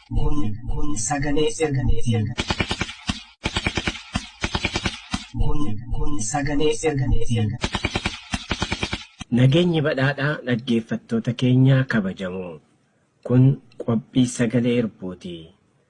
Kun, kun sagalee ergameeti. Kun, kun sagalee ergameeti. Nageenyi badhaadhaa dhaggeeffattoota keenyaa kabajamoo. Kun qophii sagalee irbuuti.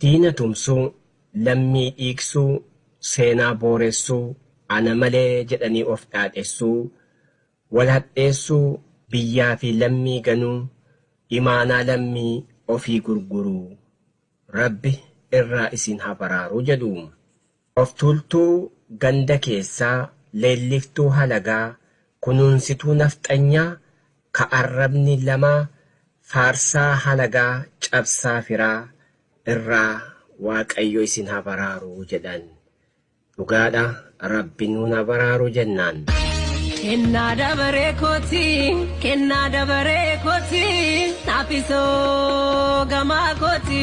Diina tumsuu, lammii dhiigsuu, seenaa booressuu, ana malee jedhanii of dhaadhessuu, wal hadheessuu, biyyaa fi lammii ganuu, imaanaa lammii ofii gurguruu. Rabbi irraa isin ha baraaru jedhu. Oftuultuu ganda keessaa, leelliftuu halagaa, kunuunsituu nafxanyaa ka arrabni lama faarsaa halagaa cabsaa firaa irraa waaqayyo isin ha baraaru jedhan. Dhugaadha rabbi nuun ha baraaru jennaan. Kennaa dabaree kooti kennaa dabaree kooti naafisoo gamaa kooti.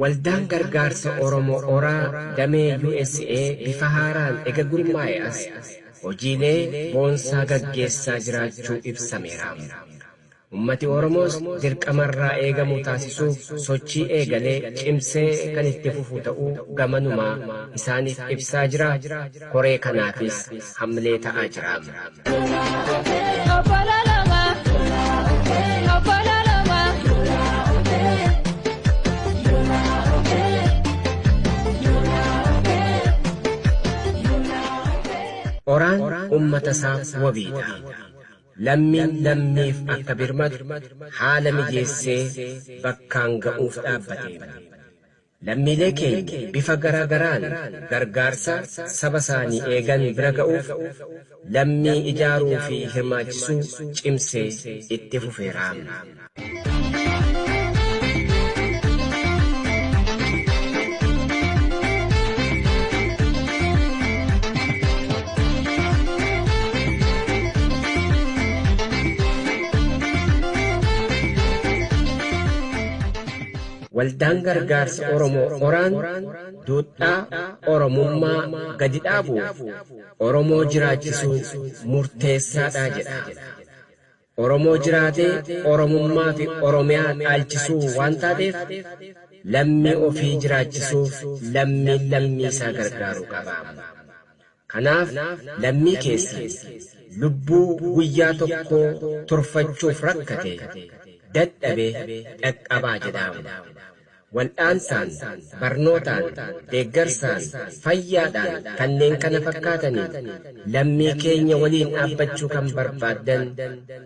Waldaan Gargaarsa Oromoo Ora damee usa bifa haaraan ega gurmaa'e as hojiilee boonsaa gaggeessaa jiraachuu ibsameera. Ummati Oromoos dirqama irraa eegamu taasisuuf sochii eegale cimsee kan itti fufu ta'uu gamanumaa isaaniif ibsaa jira. Koree kanaafis hamlee ta'aa jira. Oraan ummata isaaf wabiidha. Lammiin lammiif akka birmatu haala mijeessee bakkaan ga'uuf dhaabbateera. Lammiilee keenya bifa garaa garaan gargaarsa saba isaanii eegan bira ga'uuf lammii ijaaruu fi hirmaachisuu cimsee itti fufeera. Waldaan Gargaarsa Oromoo Oraan duudhaa Oromummaa gadi dhaabuuf Oromoo jiraachisuun murteessaadha jedha. Oromoo jiraatee Oromummaafi Oromiyaa dhaalchisuu waan taateef lammii ofii jiraachisuuf lammiin lammiisaa gargaaruu qaba. Kanaaf lammii keessan lubbuu guyyaa tokkoo turfachuuf rakkate, dadhabe dhaqqabaa jedhaam. Waldhaansaan, barnootaan, deeggarsaan, fayyaadhaan kanneen kana fakkaataniin lammii keenya waliin dhaabbachuu kan barbaaddan,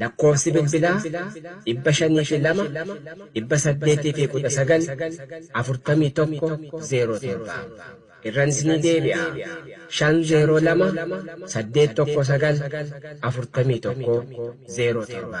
Lakkoofsi bilbilaa dhibba shanii fi lama dhibba saddeetii fi kudha sagal afurtamii tokko zeeroo torba. Irranis ni deebi'a. Shan zeeroo lama saddeet tokko sagal afurtamii tokko zeeroo torba.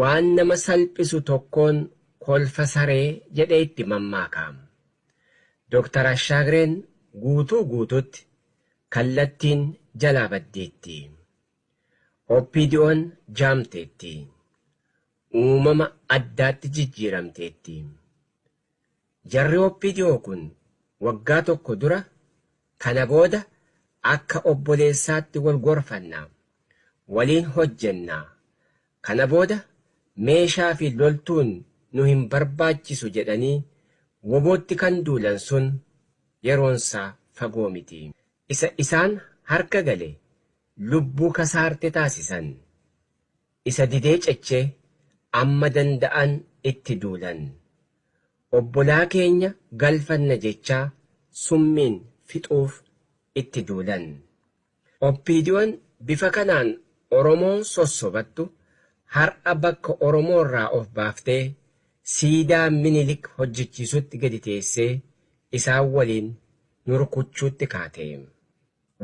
Waan nama salphisu tokkoon kolfa saree jedhee itti mammaaka. Doktar Ashaagreen guutuu guutuutti kallattiin jalaa baddeetti. OPDOn jaamteetti. Uumama addaatti jijjiiramteetti. Jarri opdo kun waggaa tokko dura kana booda akka obboleessaatti wal gorfanna, waliin hojjenna, kana booda meeshaa fi loltuun nu hin barbaachisu jedhanii wobootti kan duulan sun yeroonsaa fagoo miti. Isa isaan harka gale lubbuu kasaarte taasisan. Isa didee cece amma danda'an itti duulan. Obbolaa keenya galfanna jechaa summiin fixuuf itti duulan. OPDOn bifa kanaan Oromoo sossobattu har'a bakka Oromoo irraa of baaftee siidaa Minilik hojjechiisutti gadi teessee isaan waliin nu rukuchuutti kaate.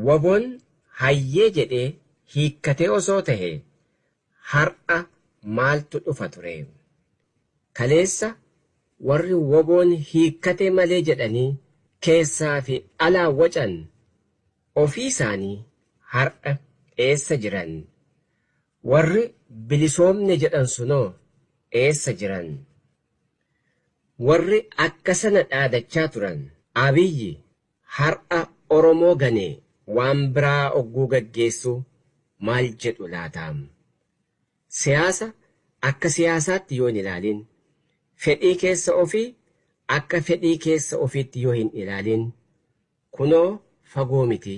Wabon hayyee jedhee hiikkatee osoo tahee har'a maaltu dhufa turee? Kaleessa warri wabon hiikkatee malee jedhanii keessaa fi alaa wacan ofii isaanii har'a eessa jiran? Warri bilisoomne jedhan sunoo eessa jiran? Warri akkasana dhaadachaa turan Abiyyi Har'a Oromoo ganee waan biraa ogguu gaggeessu maal jedhu laata? Siyaasa akka siyaasaatti yoo hin ilaalin, fedhii keessa ofii akka fedhii keessa ofiitti yoo hin ilaalin, kunoo fagoo miti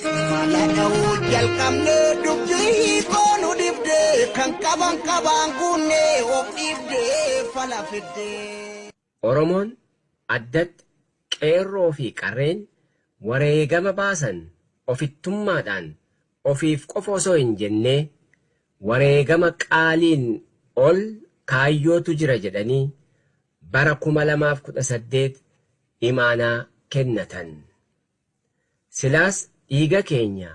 Mala dha'uu jalqabnee dubbii hiikoo nu dhibde kan qaban qabaan guunne of dhiibde fala fidde. Oromoon addatti qeerroo fi qarreen wareegama baasan ofittummaadhaan ofiif qofa osoo hin jennee wareegama qaaliin ol kaayyootu jira jedhanii bara 2018 imaanaa kennatan. Silaas dhiiga keenya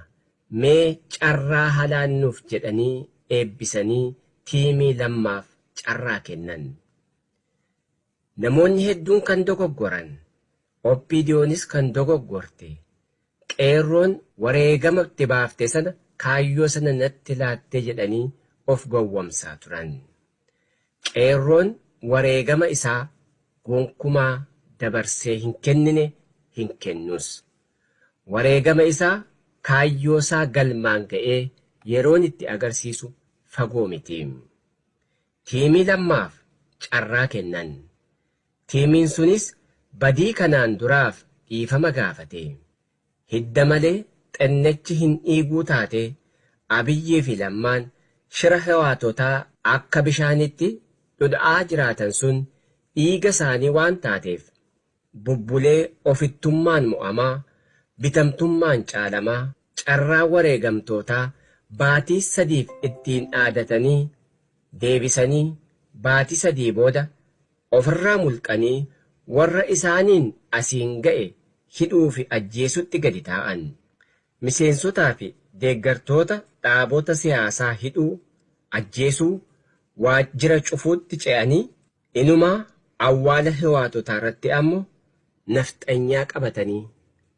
mee carraa halaan nuuf jedhanii eebbisanii tiimii Lammaaf carraa kennan. Namoonni hedduun kan dogoggoran, OPDOnis kan dogoggorte, Qeerroon wareegama itti baafte sana kaayyoo sana natti laattee jedhanii of gowwomsaa turan. Qeerroon wareegama isaa gonkumaa dabarsee hin kennine, hin kennus. Wareegama isaa, kaayyoo isaa galmaan ga'ee yeroon itti agarsiisu fagoo miti. Tiimii Lammaaf carraa kennan. Tiimiin sunis badii kanaan duraaf dhiifama gaafate. Hidda malee xennechi hin dhiiguu taatee Abiyyii fi Lammaan shira Hewaatotaa akka bishaanitti dhudha'aa jiraatan sun dhiiga isaanii waan taateef bubbulee ofittummaan mo'amaa, bitamtummaan caalamaa, carraa wareegamtootaa baatii sadiif ittiin dhaadatanii deebisanii baatii sadii booda Ofirraa mulqanii warra isaaniin asiin ga'e hidhuu fi ajjeesutti gadi taa'an. Miseensotaa fi deeggartoota dhaabota siyaasaa hidhuu, ajjeesuu, waajjira cufuutti ce'anii inumaa awwaala Hiwaatotaarratti ammo nafxanyaa qabatanii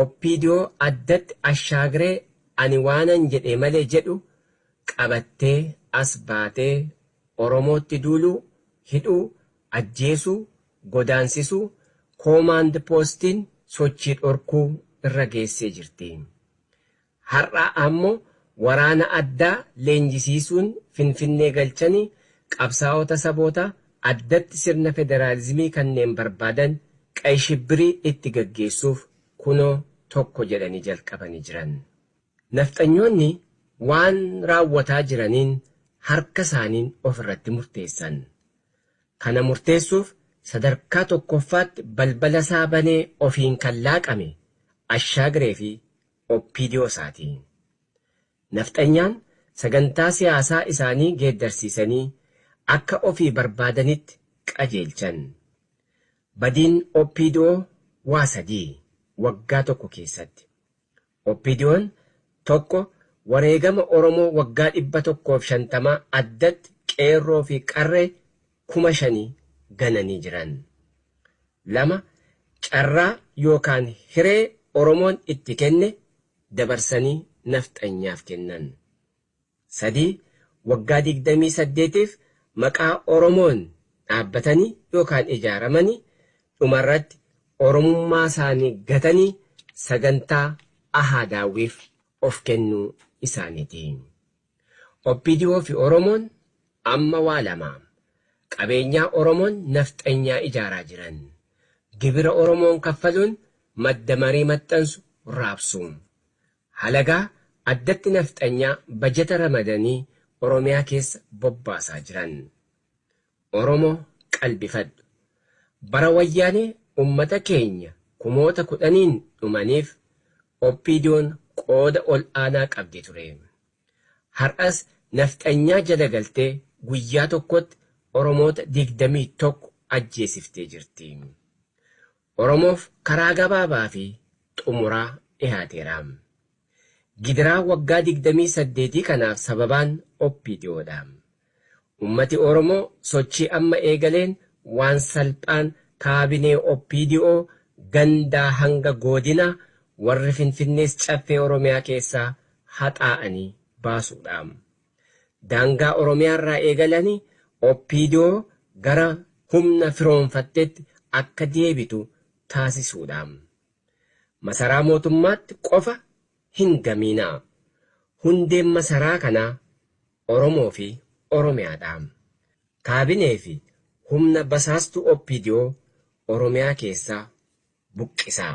Opdo addatti ashaagree ani waanan jedhee malee jedhu qabattee as baatee Oromootti duuluu, hidhuu, ajjeesuu, godaansisuu, koomaand poostiin sochii dhorkuu irra geessee jirti. Har'a ammo waraana addaa leenjisiisuun Finfinnee galchanii qabsaa'ota saboota addatti sirna federaalizimii kanneen barbaadan qay shibbirii itti gaggeessuuf kunoo tokko jedhanii jalqabanii jiran. Nafxanyoonni waan raawwataa jiraniin harka isaaniin of irratti murteessan. Kana murteessuuf sadarkaa tokkoffaatti balbala isaa banee ofiin kan laaqame Ashaagiree fi Opdo saati. Nafxanyaan sagantaa siyaasaa isaanii geeddarsiisanii akka ofii barbaadanitti qajeelchan. Badiin opdo waa sadii waggaa tokko keessatti. Opdon tokko wareegama Oromoo waggaa 150 addatti qeerroo fi qarree kuma shanii gananii jiran. 2, Carraa yookaan hiree Oromoon itti kenne dabarsanii Nafxanyaaf kennan. 3, Waggaa 28f maqaa Oromoon dhaabbatanii yookaan ijaaramanii dhumarratti Oromummaasaanii gatanii sagantaa Ahaa Daawwiif of kennuu isaaniiti. Opdo fi Oromoon amma waa lama. Qabeenyaa Oromoon nafxanyaa ijaaraa jiran. Gibira Oromoon kaffaluun madda marii maxxansu raabsu. Halagaa addatti nafxanyaa bajata ramadanii Oromiyaa keessa bobbaasaa jiran. Oromo qalbifadhu. Bara wayyaane ummata keenya kumoota kudhaniin dhumaniif OPDOn qooda ol aanaa qabdi ture. Har'as nafxanyaa jala galtee guyyaa tokkotti Oromoota 21 ajjeesiftee jirti. Oromoof karaa gabaabaa fi xumuraa dhihaateera. Gidiraa waggaa 28 kanaaf sababaan OPDO dha. Ummati Oromoo sochii amma eegaleen waan salphaan kaabinee OPDO gandaa hanga goodinaa warri Finfinnees Caffee Oromiyaa keessaa haxaa'anii baasuu dha. Daangaa Oromiyaarraa eegalanii opdo gara humna firoomfatteetti akka deebitu taasisuudha. Masaraa mootummaatti qofa hin gamiinaa. Hundeen masaraa kanaa Oromoo fi Oromiyaadha. Kaabinee fi humna basaastuu opdo Oromiyaa keessaa buqqisaa.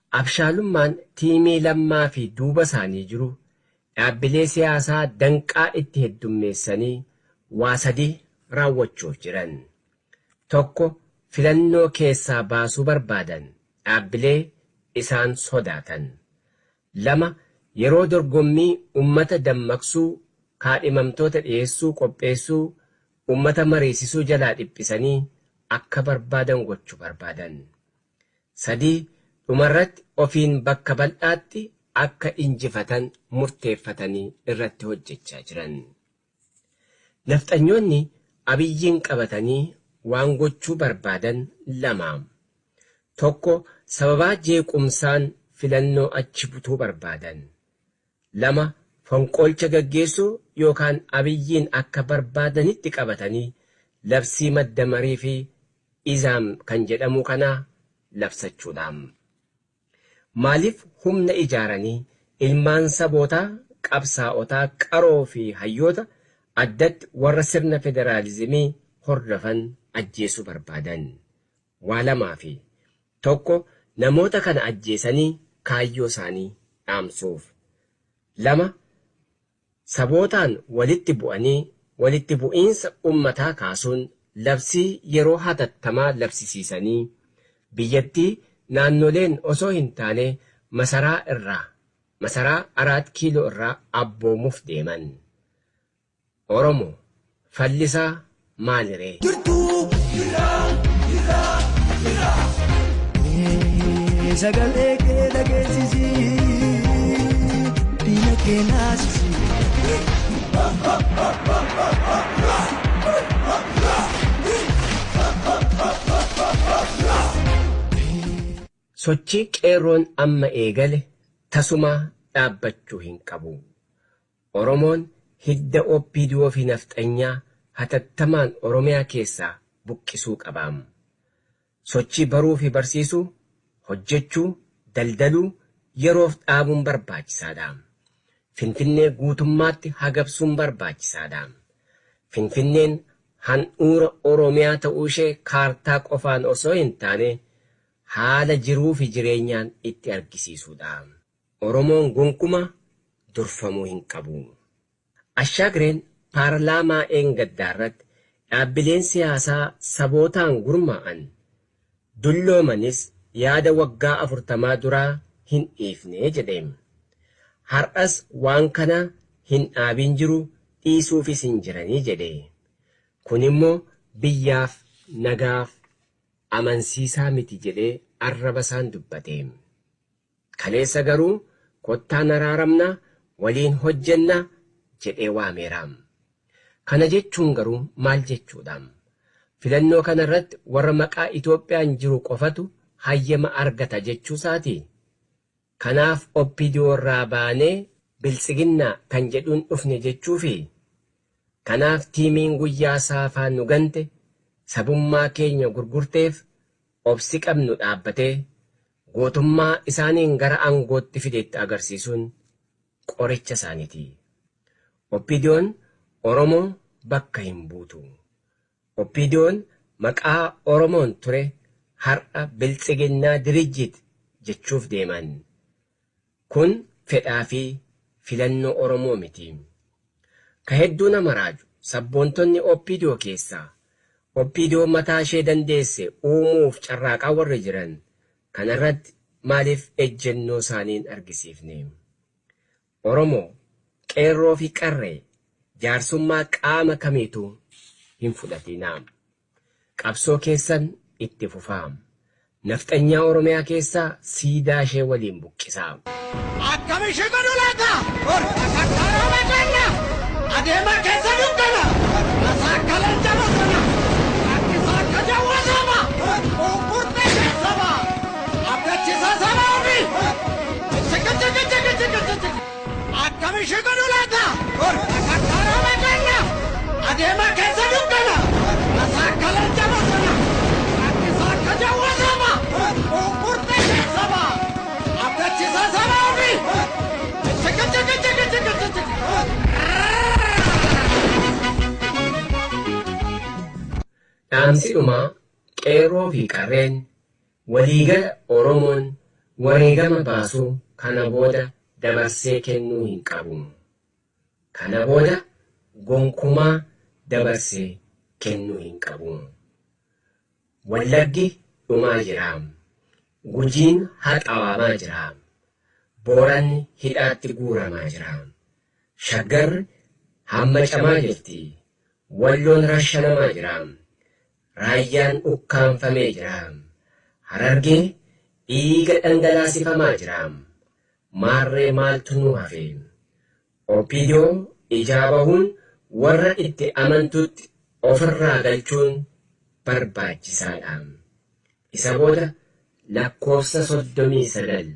Abshaalummaan tiimii Lammaa fi duuba isaanii jiru dhaabbilee siyaasaa danqaa itti heddummeessanii waa sadii raawwachuuf jiran. Tokko filannoo keessaa baasuu barbaadan dhaabbilee isaan sodaatan. Lama yeroo dorgommii ummata dammaqsuu, kaadhimamtoota dhiyeessuu, qopheessuu, ummata mariisisuu jalaa dhiphisanii akka barbaadan gochu barbaadan. 3, Dhumarratti ofiin bakka bal'aatti akka injifatan murteeffatanii irratti hojjechaa jiran. Nafxanyoonni Abiyyiin qabatanii waan gochuu barbaadan lama. Tokko sababaa jeequmsaan filannoo achi butuu barbaadan. 2, Fonqolcha gaggeessuu yookaan Abiyyiin akka barbaadanitti qabatanii labsii madda marii fi Izaam kan jedhamuu kanaa labsachuudhaam. Maaliif humna ijaaranii ilmaan sabootaa, qabsaa'otaa qaroo fi hayyoota, addatti warra sirna federaalizimii hordofan ajjeesuu barbaadan? waa lamaa fi tokko namoota kana ajjeesanii kaayyoo isaanii dhaamsuuf. lama sabootaan walitti bu'anii walitti bu'iinsa ummataa kaasuun labsii yeroo hatattamaa labsisiisanii biyyattii naannoleen osoo hin taane masaraa irraa masaraa Araat Kiiloo irraa abboomuuf deeman. Oromo fallisaa maali ree. jirtuu jirraa jirraa jirraa. Mee sagalee kee dhageessisi diina kee naasisi. Sochii qeerroon amma eegale tasumaa dhaabbachuu hin qabu. Oromoon hidda OPDO fi Nafxanyaa hatattamaan Oromiyaa keessaa buqqisuu qabaam. Sochii baruu fi barsiisuu, hojjechuu, daldaluu yeroof dhaabuun barbaachisaa dha. Finfinnee guutummaatti hagabsuun barbaachisaa dha. Finfinneen handhuura Oromiyaa ta'uu ishee kaartaa qofaan osoo hin taane haala jiruu fi jireenyaan itti argisiisuu dha. Oromoon gonkumaa durfamuu hin qabu. Ashaagireen paarlaamaa dheengaddaarratti dhaabbileen siyaasaa sabootaan gurmaa'an dulloomanis yaada waggaa afurtamaa duraa hin dhiifne jedhe. Har'as waan kana hin dhaabiin jiru dhiisuufis hin jirani jedhe. Kunimmoo biyyaaf nagaaf amansiisaa miti jedhee arrabasaan dubbate. Kaleessa garuu kottaa naraaramna waliin hojjenna jedhee waameera. Kana jechuun garuu maal jechuudha? Filannoo kana irratti warra maqaa Itoophiyaan jiru qofatu hayyama argata jechuusaati? Kanaaf OPDO irraa baanee Biltsiginnaa kan jedhuun dhufne jechuufi? Kanaaf tiimiin guyyaa saafaa nu gante, sabummaa keenya gurgurteef Obsi qabnu dhaabbatee gootummaa isaaniin gara aangootti fideetti agarsiisuun qoricha isaaniiti. OPDOn Oromoo bakka hin buutu. OPDOn maqaa Oromoon ture har'a Biltsiginnaa Dirijjit jechuuf deeman. Kun fedhaa fi filannoo Oromoo miti. Ka hedduu nama raaju, sabboontonni opdo keessaa, opdo mataa ishee dandeesse uumuuf carraaqaa warri jiran, kana irratti maaliif ejjennoo isaanii hin argisiifne? Oromoo, Qeerroo fi Qarree, jaarsummaa qaama kamiituu hin fudhatinaa. Qabsoo keessan itti fufaa. Nafxanyaa Oromiyaa keessaa siidaa ishee waliin buqqisaa. Akkam ishii godhu laata? Takka rooba ganna. Adeema keessa dukkana. Asaa akka leenca bosona. Rakkisaa akka jawwa saba. Buuqqurte ishee saba. Abdachisaa saba ofii. Jijjiga jiga jiga jiga jiga. Akkam ishii godhu laata? Takkaa rooba ganna. Adeema keessa dukkana. Asaa akka leenca bosona. Rakkisaa akka jawwee saba. Unkurtee ishee saba. Abdachisaa saba ofii. Jijjiga jiga jiga jiga jiga. Dhaamsi dhumaa qeerroo fi qarreen Waliigala Oromoon wareegama baasu kana booda dabarsee kennuu hin qabu. Kana booda gonkumaa dabarse kennuu hin qabu. Wallaggi dhumaa jira. Gujiin haxawaamaa jira. Booranni hidhaatti guuramaa jira. Shaggarri hammacamaa jirti. Walloon rashanamaa jira. Raayyaan ukkaamfamee jira. Harargee dhiiga dhangalaasifamaa jira. Maarree maaltu nu hafe? Opdo ijaa bahuun warra itti amantutti ofirraa galchuun barbaachisaadha. Isa booda lakkoofsa 39.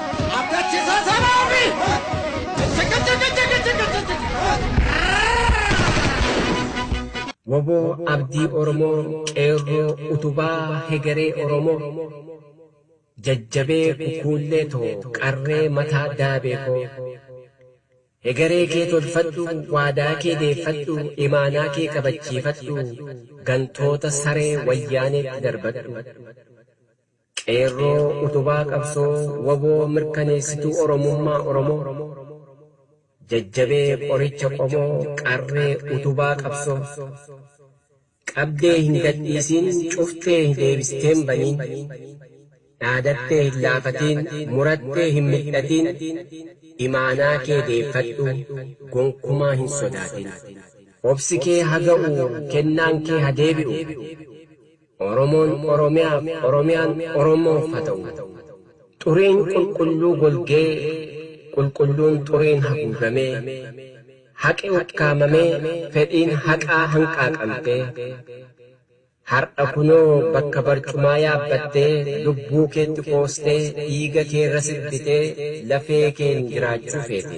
Abdachiisaa Sanaa fi Wbo Abdii Oromoo Qeerroo Utubaa Hegeree Oromoo Jajjabee Kukuullee too Qarree Mataa Daabee koo Hegeree kee tolfadhu Waadaa kee deeffadhu Imaanaa kee kabachiifadhu Gantoota Saree Wayyaaneetti darbadhu Qeerroo utubaa qabsoo wbo mirkaneessituu Oromummaa Oromoo Jajjabee qoricha qomoo qarree utubaa qabsoo Qabdee hin gadhiisiin cuftee hin deebistee hin baniin Dhaadattee hin laafatiin murattee hin mil'atiin Imaanaa kee deeffadhu gonkumaa hin sodaatiin Obsi kee ha ga'u kennaan kee ha deebi'u. Oromoon Oromiyaaf, Oromiyaan Oromoof ha ta'u. Xuriin qulqulluu golgee, qulqulluun xuriin haguugamee, haqi ukkaamamee, fedhiin haqaa hanqaaqamtee, har'a kunoo bakka barcumaa yaabbattee, lubbuu keetti qoostee, dhiiga keerra sirbitee, lafee keen jiraachuu feete.